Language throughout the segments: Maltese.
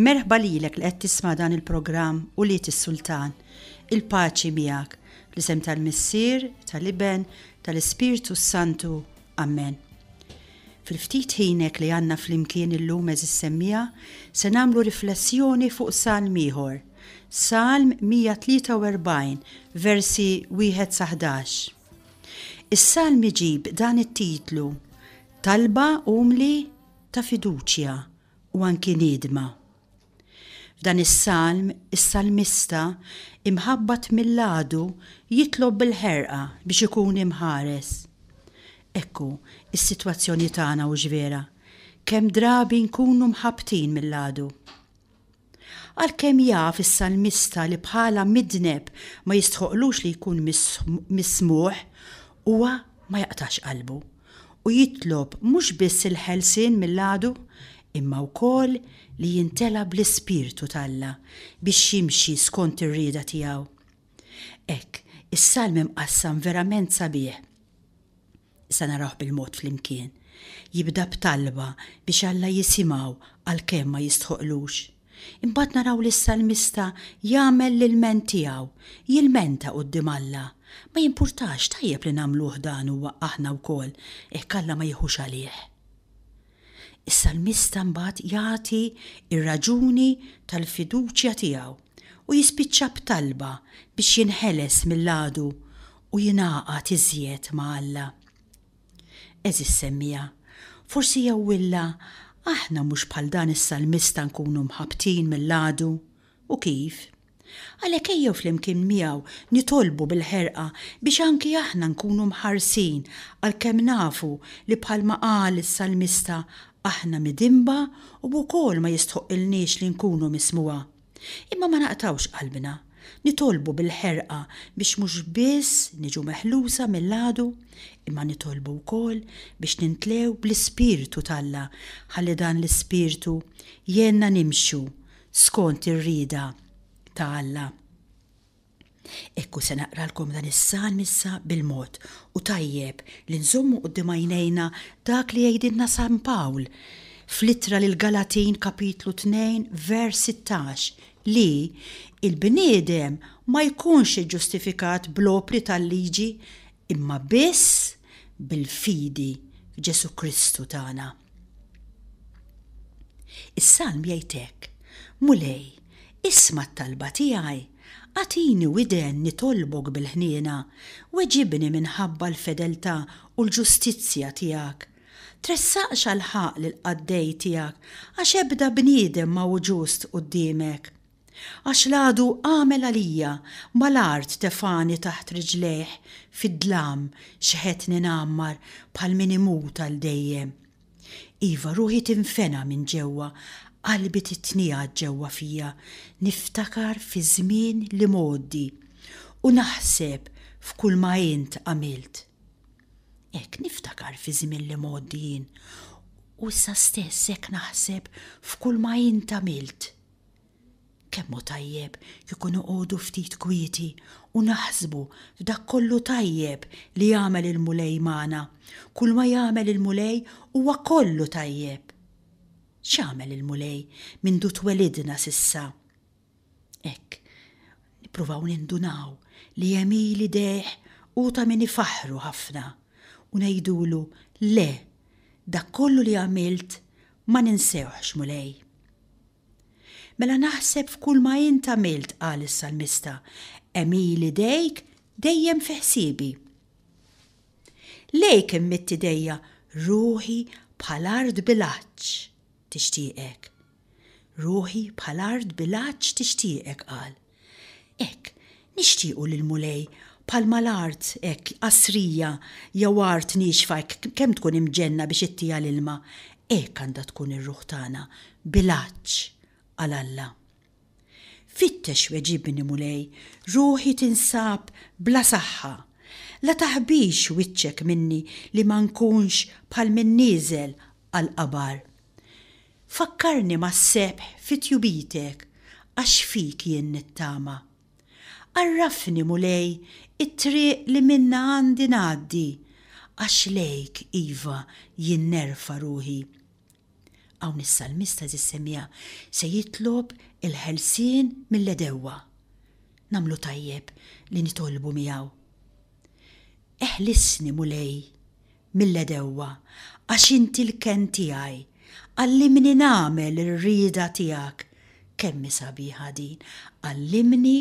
Merħba lilek li qed tisma' dan il-programm Ulied is-Sultan. Il-paċi miegħek. Fl-isem tal-Missier, tal-Iben, tal-Ispirtu s-Santu. Amen. Fil-ftit ħinek li għandna flimkien illum eżis semmija, se nagħmlu riflessjoni fuq salm ieħor. Salm 143, versi 1 sa 11. Is-salm iġib dan it-titlu Talba umli ta' fiduċja u anki niedma. F'dan is-salm, is-salmista, imħabbat mill-għadu, jitlob bil-ħerqa biex ikun imħares. Hekk hu s-sitwazzjoni tagħna hux vera? Kemm drabi nkunu mħabbtin mill-għadu? Għalkemm jaf is-salmista li bħala midneb ma jistħoqqlux li jkun mismuħ, huwa ma jaqtax qalbu u jitlob mhux biss il-ħelsien mill-għadu, imma wkoll li jimtela bl-ispirtu t'Alla biex jimxi skont ir-rieda tiegħu. Hekk, is-salm imqassam verament sabiħ. Se narawh bil-mod flimkien. Jibda b'talba biex Alla jisimgħu għalkemm ma jistħoqqlux. Imbagħad naraw lis-salmista jagħmel l-ilment tiegħu, jilmenta quddiem Alla. Ma jimpurtax, tajjeb li nagħmluh dan huwa aħna wkoll, hekk Alla ma jiħux għalih. Is-salmista mbagħad jagħti r-raġuni tal-fiduċja tiegħu u jispiċċa b'talba biex jinħeles mill-għadu u jingħaqad iżjed ma' Alla. Għeżież semmiegħa, forsi jewwilna aħna mhux bħal dan is-salmista nkunu mħabbtin mill-għadu. U kif? Għalhekk ejjew flimkien miegħu nitolbu bil-ħerqa biex anki aħna nkunu mħarsin għalkemm nafu li bħalma qal is-salmista aħna midinba u wkoll ma jistħoqqilniex li nkunu mismugħa. Imma ma naqtgħux qalbna, nitolbu bil-ħerqa biex mhux biss niġu meħlusa mill-għadu, imma nitolbu wkoll biex nintlew bl-ispirtu t'Alla ħalli dan l-ispirtu jgħinna nimxu skont ir-rieda ta' Alla. Hekk hu se naqralkom dan is-salm issa bil-mod, u tajjeb li nżommu quddiem għajnejna dak li jgħidilna San Pawl fl-ittra lill-Galatin kapitlu tnejn vers sittax li l-bniedem ma jkunx iġġustifikat bl-opri tal-liġi imma biss bil-fidi f'Ġesù Kristu tagħna. Is-salm jgħid hekk, Mulej, isma' t-talba tiegħi Agħtini widen nitolbok bil-ħniena, weġibni minħabba l-fedeltà u l-ġustizzja tiegħek. Tressaqx għall-ħaqq lill-qaddej tiegħek, għax ebda bniedem ma hu ġust quddiemek. Għax l-għadu għamel għalija, mal-art tefagħni taħt riġlejh, fid-dlam xħetni ngħammar bħal min imut għal dejjem. Iva, ruħi tinfena minn ġewwa, qalbi titniegħed ġewwa fija, niftakar fiż-żmien l-imgħoddi u naħseb f'kulma int għamilt. Hekk niftakar fiż-żmien l-imgħoddi jien u issa stess hekk naħseb f'kulma int għamilt. Kemm hu tajjeb kieku noqogħdu ftit kwieti u naħsbu f'dak kollu tajjeb li jagħmel il-Mulej magħna! Kulma jagħmel il-Mulej huwa kollu tajjeb! X'għamel il-Mulej mindu twelidna s'issa? Hekk, nippruvaw nindunaw li hemm il idejh hu ta' min ifaħħru ħafna u ngħidulu, Le, dak kollu li għamilt ma ninsewhx, Mulej! Mela naħseb f'kulma int għamilt, qal is-salmista, hemm il idejk dejjem fi ħsiebi. Lejk immitt idejja ruħi bħal art bil-għatx tixtieqek. Ruħi bħal art bil-għatx tixtieqek, qal. Hekk, nixtiequ li l-Mulej, bħalma l-art hekk qasrija jew art niexfa hekk kemm tkun imġenna biex ittiha l-ilma, hekk għandha tkun ir-ruħ tagħna, bil-għatx għal Alla. Fittex weġibni, Mulej, ruħi tinsab bla saħħa. La taħbix wiċċek minni li ma nkunx bħal min nieżel għall-qabar. Fakkarni mas-sebħ fi tjubitek għax fik jien nittama. Għarrafni, Mulej, it-triq li minnha għandi ngħaddi għax lejk, iva, jien nerfa' ruħi. Hawn is-salmista eżiż semmiegħa se jitlob il-ħelsien mill-għedewwa. Nagħmlu tajjeb li nitolbu miegħu. Eħlisni, Mulej, mill-għedewwa, għax inti l-kenn tiegħi, għallimni nagħmel ir-rieda tiegħek, kemm hi sabiħa din, għallimni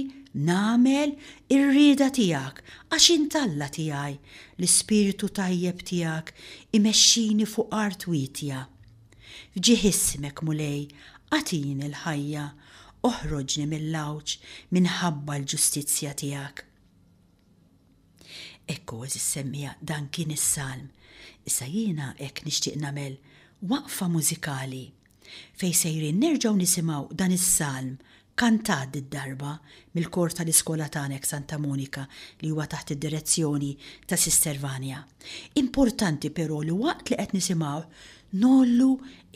nagħmel ir-rieda tiegħek, għax int Alla tiegħi, l-ispirtu tajjeb tiegħek imexxini fuq art wietja. F'ġieħ ismek, Mulej, agħtini l-ħajja, oħroġni mill-għawġ minħabba l-ġustizzja tiegħek. Ekku, għeżiż semmiegħa, dan kien is-salm. Issa jiena hekk nixtieq nagħmel waqfa mużikali fejn sejrin nerġgħu nisimgħu dan is-salm kantat did-darba mill-kor tal-iskola tagħna hekk Santa Monika li huwa taħt id-direzzjoni ta' Sister Vania. Importanti però li waqt li qed nisimgħuh ngħollu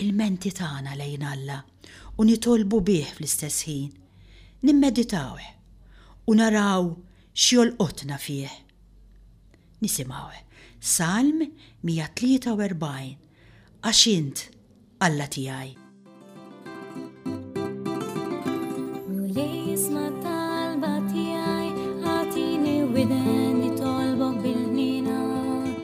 l-menti tagħna lejn Alla. u nitolbu bih fl-istess ħin, nimmeditawh u naraw x'jolqotna fih. Nisimgħu Salm 143, Għax int, Alla tiegħi.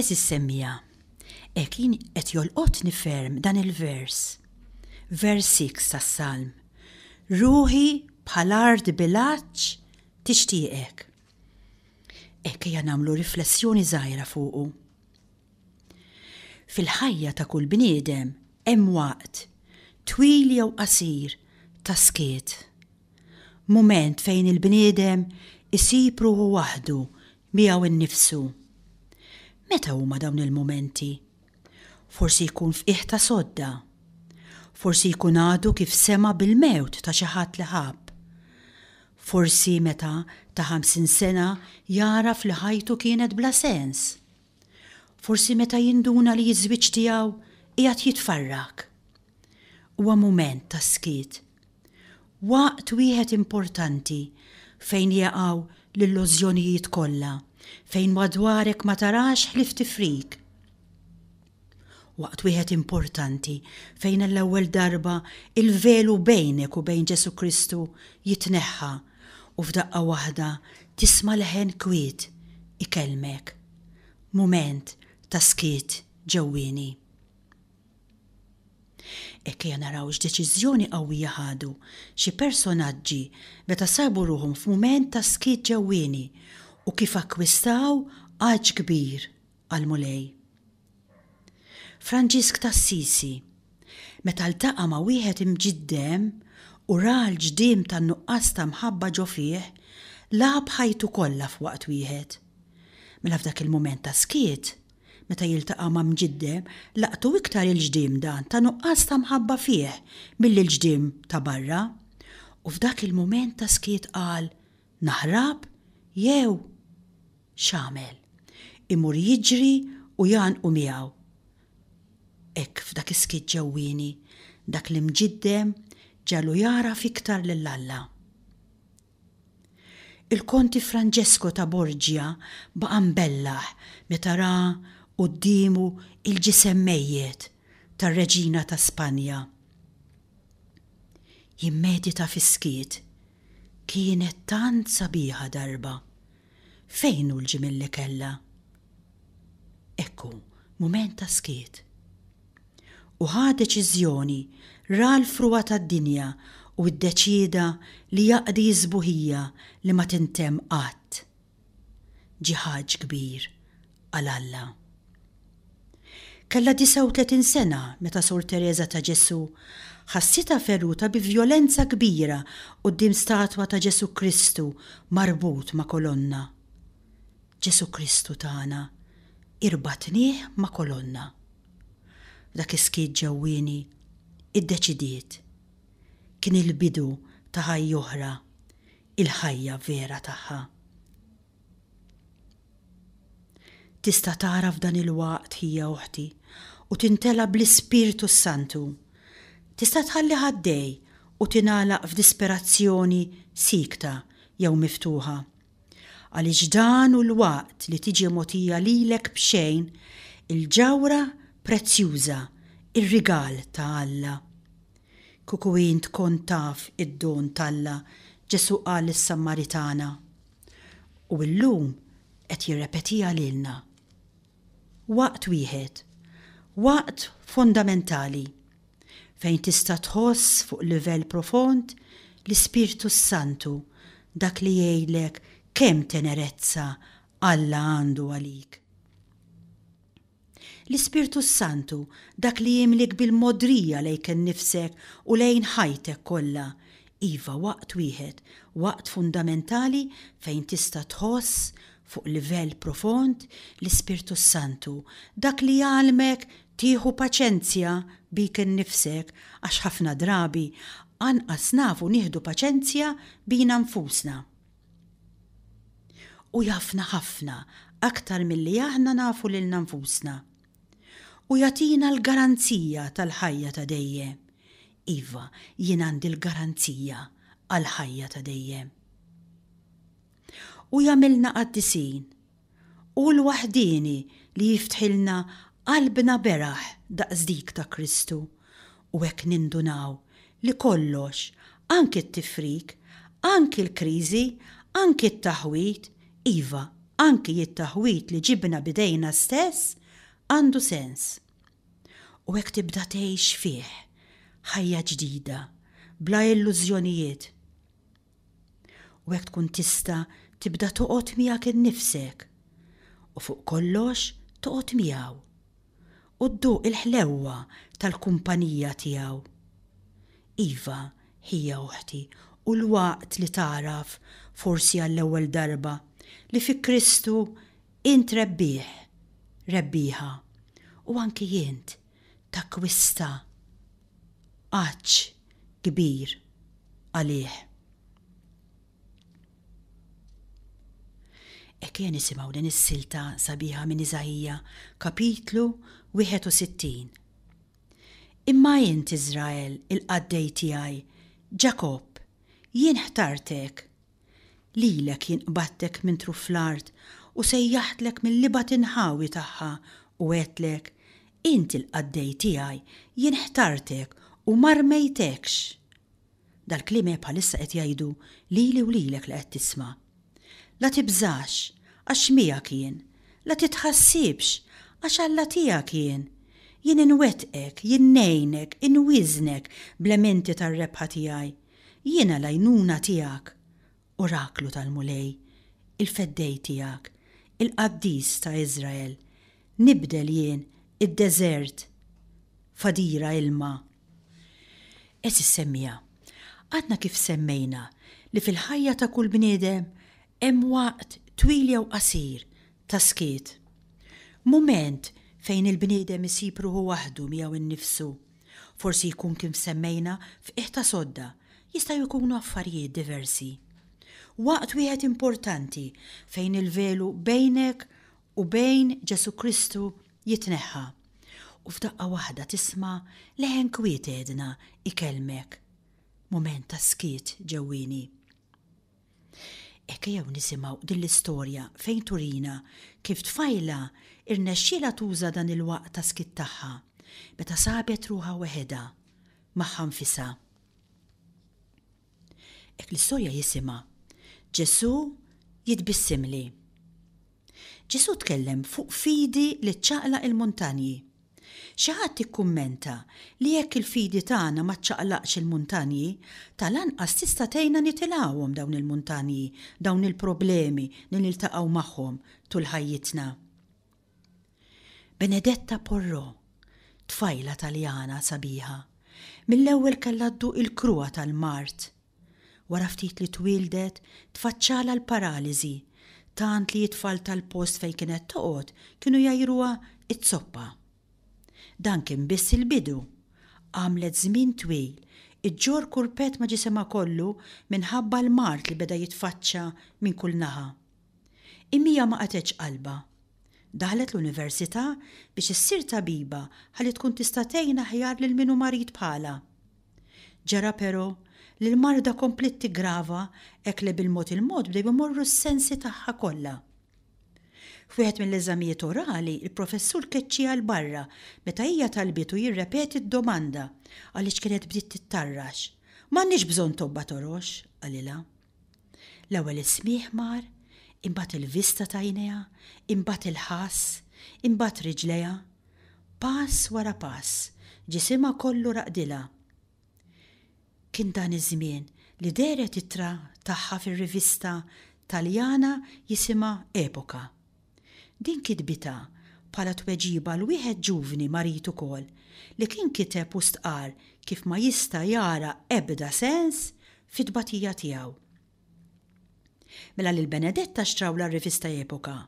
Eżis semmija, ek jien qed jolqotni ferm dan il-vers. Vers 6 tas-Salm. Ruħi bħal art bilaċ tixtieqek. Hekk ejja nagħmlu riflessjoni żgħira fuqu. Fil-ħajja ta' kull bniedem hemm waqt, twil jew qasir, ta' skiet. Mument fejn il-bniedem isib ruħu waħdu miegħu nnifsu. Meta huma dawn il-mumenti? Forsi jkun f'qiegħ ta' sodda. Forsi jkun għadu kif sema' bil-mewt ta' xi ħadd li ħabb. Forsi meta ta' ħamsin sena jagħraf li ħajtu kienet bla sens. Forsi meta jinduna li ż-żwieġ tiegħu qiegħed jitfarrak. Huwa mument ta' skiet. Waqt wieħed importanti fejn jaqgħu l-illużjonijiet kollha, fejn madwarek ma tarax ħlief tifrik. Waqt wieħed importanti fejn għall-ewwel darba l-velu bejnek u bejn Ġesù Kristu jitneħħa u f'daqqa waħda tisma' leħen kwiet ikellmek. Mument ta' skiet ġewwieni. Ejja naraw x'deċiżjoni qawwija ħadu xi personaġġi meta sabu ruħhom f'mument ta' skiet ġewwieni u kif akkwistaw għatx kbir għall-Mulej. Franġisk t'Assisi, meta ltaqa' ma' wieħed imġiddem u ra l-ġdiem tan-nuqqas ta' mħabba ġo fih, lagħab ħajtu kollha f'waqt wieħed. Mela f'dak il-mument ta' skiet, Meta jiltaqa' ma' mġiddem, laqtu iktar il-ġdiem dan ta' nuqqas ta' mħabba fih milli l-ġdiem ta' barra. U f'dak il-mument ta' skiet qal, Naħrab jew. X'agħmel? Imur jiġri u jgħannqu miegħu. Hekk f'dak is-skiet ġewwieni, dak l-imġiddem ġagħlu jagħraf iktar lil Alla. Il-Konti Francesco ta' Borgia baqa' mbellah meta ra quddiemu l-ġisem mejjet tar-Reġina ta' Spanja. Jimmedita fis-skiet, Kienet tant sabiħa darba. Fejn hu l-ġimiel li kellha? Hekk hu, mument ta' skiet. u ħa deċiżjoni ra l-frugħa tad-dinja u ddeċieda li jaqdi s-sbuħija li ma tintemm qatt. Ġiħaġ kbir għal Alla. Kellha 39 sena meta Sor Tereża ta' Ġesù ħassitha feruta bi vjolenza kbira quddiem statwa ta' Ġesù Kristu marbut ma' kolonna. Ġesù Kristu tagħna, irbatnieh ma' kolonna. F'dak is-skiet ġewwieni, iddeċidiet. Kien il-bidu ta' ħajja oħra, il-ħajja vera tagħha. Tista' tara f'dan il-waqt, ħija oħti, u tintela' bl-Ispirtu s-Santu. Tista' tħalli ħaddej u tingħalaq f'disperazzjoni siekta jew miftuħa. Għaliex dan hu l-waqt li tiġi mogħtija lilek b'xejn il-ġawhra prezzjuża, ir-rigal ta' Alla. Kieku int kont taf id-don t'Alla, Ġesù qal lis-Sammaritana, u llum qed jirrepetiha lilna. Waqt wieħed. Waqt fondamentali. fejn tista' tħoss fuq livell profond l-Ispirtu s-Santu, dak li jgħidlek kemm tenerezza Alla għandu għalik. L-Ispirtu s-Santu, dak li jimlik bil-mogħdrija lejk innifsek u lejn ħajtek kollha, iva waqt wieħed, waqt fundamentali fejn tista' tħoss Fuq livell profond, l-Ispirtu s-Santu, dak li jgħallmek tieħu paċenzja bik innifsek, għax ħafna drabi anqas nafu nieħdu paċenzja bina nfusna. Hu jafna ħafna aktar milli aħna nafu lilna nfusna. U jagħtina l-garanzija tal-ħajja ta' dejjem. Iva, jien għandi l-garanzija għall-ħajja ta' dejjem. u jagħmilna qaddisin. Hu l-waħdieni li jiftħilna qalbna beraħ daqs dik ta' Kristu u hekk nindunaw li kollox, anki t-tifrik, anki l-kriżi, anki t-taħwid, iva, anki it-taħwid li ġibna b'idejna stess, għandu sens. U hekk tibda tgħix fih ħajja ġdida, bla illużjonijiet. u hekk tkun tista' tibda toqgħod miegħek innifsek, u fuq kollox toqgħod miegħu, u dduq il-ħlewwa tal-kumpanija tiegħu. Iva, ħija uħti, hu l-waqt li tagħraf, forsi għall-ewwel darba, li fi Kristu int rebbieħ, rebbieħa, u anki int, takkwista għatx kbir għalih. Ekk nisimgħu din is-silta sabiħa minn Iżaija, kapitlu 61. Imma int Iżrael il-qaddej tiegħi, Ġakobb, jien ħtartek Lilek jien qbadtek minn truf fl-art u sejjaħtlek mill-ibgħat inħawi tagħha u għedtlek, Int il-qaddej tiegħi, jien ħtartek u ma rmejtekx! Dal-kliem hi bħalissa qed jgħidu lili u lilek li qed tisma'. La tibżax, għax miegħek jien. La titħassibx, għax Alla tiegħek jien. Jien inwettqek, jien ngħinek, inwieżnek bl-għementi tar-rebħa tiegħi. Jiena l-għajnuna tiegħek, oraklu tal-Mulej, il-feddej tiegħek, il-qaddis ta' Iżrael, nibdel jien id-deżert f'għadira ilma. Għeżież semmiegħa, għadna kif semmejna li fil-ħajja ta' kull bniedem hemm waqt twil jew qasir ta' skiet. Mument fejn il-bniedem isib ruħu waħdu miegħu nnifsu. Forsi jkun kif semmejna f'qiegħ ta' sodda, jistgħu jkunu affarijiet diversi. Waqt wieħed importanti fejn il-velu bejnek u bejn Ġesù Kristu jitneħħa, u f'daqqa waħda tisma' leħen kwiet għedna ikellmek. Mument ta' skiet ġewwieni. Hekk jew nisimgħu din l-istorja fejn turina kif tfajla rnexxielha tuża dan il-waqt ta' skitt tagħha meta sabet ruħha weħedha magħha nfisha. Hekk l-istorja jisimha Ġesù jitbissimli. Ġesù tkellem fuq fidi li ċċaqlaq il-muntanji. Xi ħadd ikkummenta li jekk il-fidi tagħna ma ċċaqlaqx il-muntanji, tal-anqas tista' tgħinna nitilgħuhom dawn il-muntanji, dawn il-problemi li niltaqgħu magħhom tul ħajjitna. Benedetta Porro, tfajla Taljana sabiħa, mill-ewwel kellha dduq il-kruha tal-mard Wara ftit li twieldet, tfaċċalha l-paraliżi, tant li t-tfal tal-post fejn kienet toqgħod kienu jgħajruha z-zoppa. Dan kien biss il-bidu. Għamlet żmien twil iġġorr kurpett ma' ġisimha kollu minħabba l-mard li beda jitfaċċa minn kull naħa. Imma hija ma qatgħetx qalbha. Daħlet l-università biex issir tabiba ħalli tkun tista' tgħin aħjar lil min hu marid bħalha. Ġara però li l-marda kompliet tiggrava hekk li bil-mod il-mod bdew imorru s-sensi tagħha kollha. F'wieħed mill-eżamijiet orali, il-professur keċċiha 'l barra meta hija talbitu jirrepeti d-domanda għaliex kienet bdiet tittarrax. M'għandniex bżonn tobba torox, qalilha. L-ewwel is-smigħ mar, imbagħad il-vista ta' għinejha, imbagħad il-ħass, imbagħad riġlejha. Pass wara pass, ġisimha kollu raqdilha. Kien dan iż-żmien li dehret ittra tagħha fir-rivista Taljana jisimha Epoca. Din kitbitha bħala tweġiba għal wieħed ġuvni marid ukoll li kien kiteb u stqarr kif ma jista' jara ebda sens fit-tbatija tiegħu. Mela lil Benedetta xtrawlha r-rivista Epoca.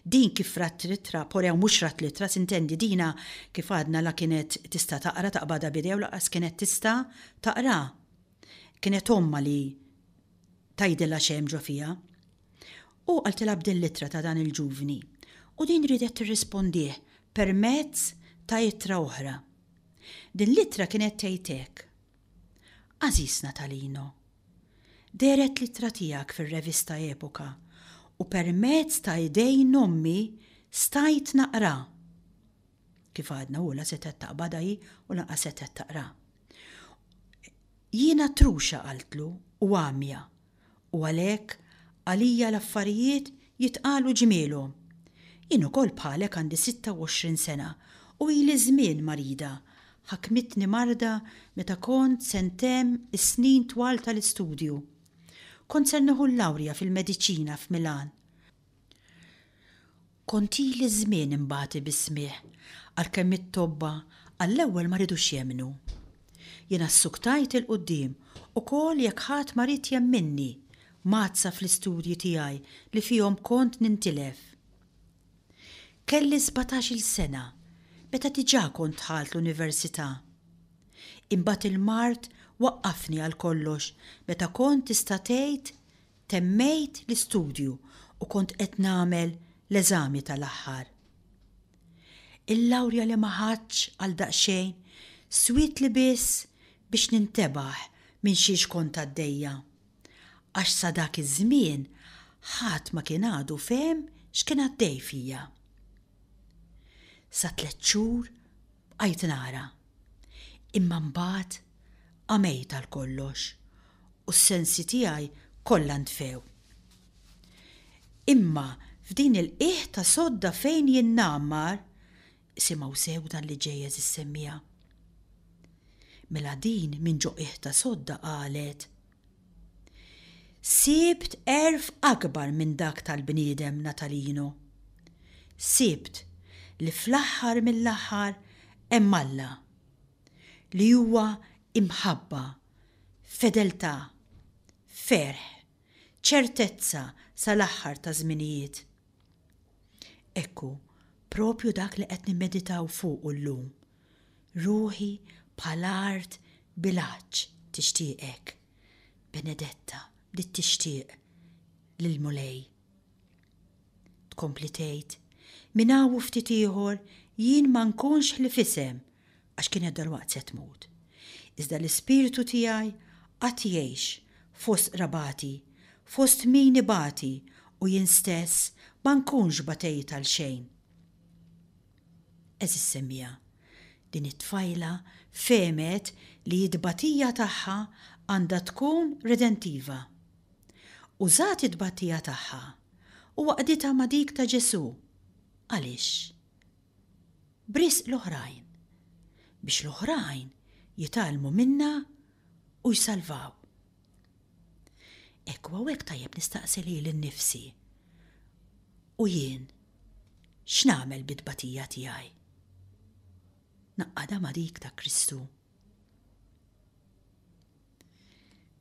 Din kif rat l-ittra, porew mhux rat l-ittra, s'intendi dina kif għadna la kienet tista' taqra taqbadha b'idejha u lanqas kienet tista' taqraha. Kienet ommha li tgħidilha x'hemm ġo fiha. Hu qaltilha b'dil-ittra ta' dan il-ġuvni u din riedet tirrispondih permezz ta' ittra oħra. Din l-ittra kienet tgħid hekk, Għażiż Natalino, dehret l-ittra tiegħek fir-revista Epoca u permezz ta' idejn ommi stajt naqra. Kif għadna hu la setgħet taqbadha hi u lanqas setgħet taqra. Jiena truxa qaltlu u għamja u għalhekk għalija l-affarijiet jitqalu ġmielhom. Jien ukoll bħalek għandi 26 sena u ili żmien marida. Ħakmitni marda meta kont se ntemm is-snin twal tal-istudju. Kont ser nieħu l-lawrja fil-mediċina f'Milan. Kontili ż-żmien imbagħti bi smigħ għalkemm it-tobba għall-ewwel ma ridux jemmnu. Jiena ssuktajt 'il quddiem ukoll jekk ħadd ma ried jemminni, mgħaddsa fl-istudji tiegħi li fihom kont nintilef. Kelli sbatax-il sena meta diġà kont dħalt l-università. Imbagħad il-mard waqqafni għal kollox meta kont tista' tgħid Temmejt l-istudju u kont qed nagħmel l-eżami tal-aħħar. Il-lawrja li ma ħadtx għal daqsxejn swietli biss biex nintebaħ minn xiex kont għaddejja, għax sa dak iż-żmien ħadd ma kien għadu fehem x'kien għaddej fija. Sa tliet xhur Bqajt nara. Imma mbagħad għamejt għal kollox u s-sensi tiegħi kollha ntfew. Imma f'din il-qiegħ ta' sodda fejn jien ngħammar, isimgħu sew dan li ġej għeżiż semmiegħa. Mela din minn ġo qiegħ ta' sodda qalet. Sibt għerf akbar minn dak tal-bniedem Natalino. Sibt li fl-aħħar mill-aħħar hemm Alla, li huwa imħabba, fedeltà, ferħ, ċertezza sal-aħħar taż-żminijiet. Ekku, proprju dak li qed nimmeditaw fuqu llum. Ruħi bħal art bil-għatx tixtieqek. Benedetta bdiet tixtieq lill-Mulej. Tkompli tgħid, Minn hawn u ftit ieħor jien ma nkunx ħlief isem, għax kienet dalwaqt se tmut. Iżda l-ispirtu tiegħi għad jgħix fost qrabati, fost min ibati u jien stess ma nkunx batejt għal xejn. Għeżież semmiegħa, din it-tfajla fehmet li t-tbatija tagħha għandha tkun redentiva. Użat it-tbatija tagħha u għaqditha ma' dik ta' Ġesù. Għaliex? b'risq l-oħrajn, biex l-oħrajn jitgħallmu minnha u jsalvaw. Hekk u hawnhekk tajjeb nistaqsi lili nnifsi, U jien x'nagħmel bit-tbatija tiegħi? Ngħaqqadha ma' dik ta' Kristu?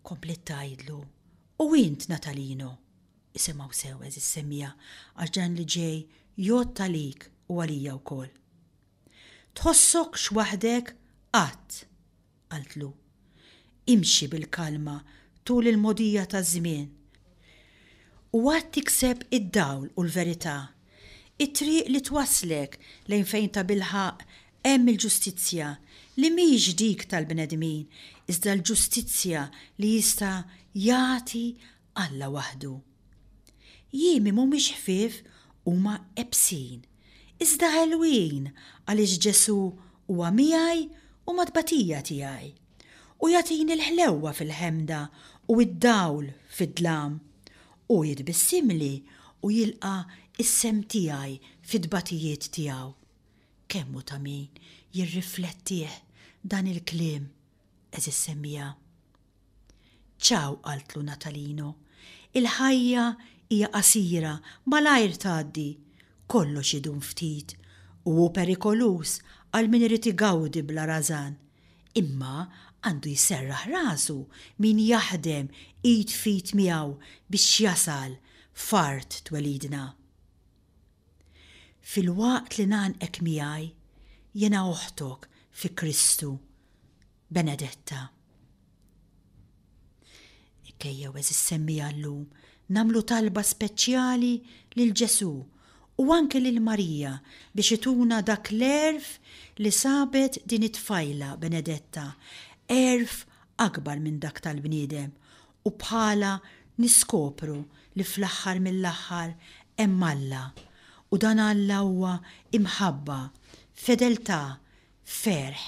Kompliet tgħidlu, U int, Natalino? Isimgħu sew, għeżież semmiegħa, għax dan li ġej jgħodd għalik u għalija wkoll. Tħossokx waħdek qatt! qaltlu. Imxi bil-kalma tul il-mogħdija taż-żmien u għad tikseb id-dawl u l-verità It-triq li twasslek lejn fejn tabilħaqq hemm il-ġustizzja, li mhix dik tal-bnedmin, iżda l-ġustizzja li jista' jagħti Alla waħdu. Jiemi mhumiex ħfief, huma ebsin, iżda ħelwin għaliex Ġesù huwa miegħi u mat-tbatija tiegħi. u jagħtini l-ħlewwa fil-ħemda u d-dawl fid-dlam. Hu jitbissimli u jilqa' s-sehem tiegħi fit-tbatijiet tiegħu. Kemm hu ta' min jirriflettih dan il-kliem, għeżież semmiegħa! Ciao, qaltlu Natalino. Il-ħajja hija qasira, malajr tgħaddi. Kollox idum ftit u hu perikoluż għal min irid igawdi bla rażan. Imma għandu jserraħ rasu min jaħdem id f'id miegħu biex jasal f'art twelidna. Filwaqt li ngħannqek miegħi, jiena oħtok fi Kristu, Benedetta. Ejjew, għeżież semmiegħa llum, nagħmlu talba speċjali lil Ġesù u anki lil Marija biex ituna dak l-għerf li sabet din it-tfajla Benedetta, għerf akbar minn dak tal-bniedem, u bħalha niskopru li fl-aħħar mill-aħħar hemm Alla, u dan Alla huwa imħabba, fedeltà, Ferħ,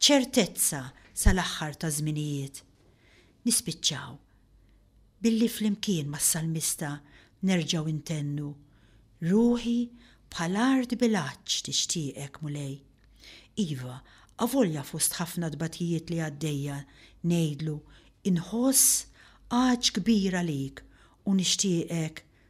ċertezza sal-aħħar taż-żminijiet. Nispiċċaw billi flimkien mas-salmista nerġgħu intennu, Ruħi bħal art bil-għatx tixtieqek, Mulej. Iva, avolja fost ħafna tbatijiet li għaddejja ngħidlu, Inħoss għatx kbir għalik u nixtieqek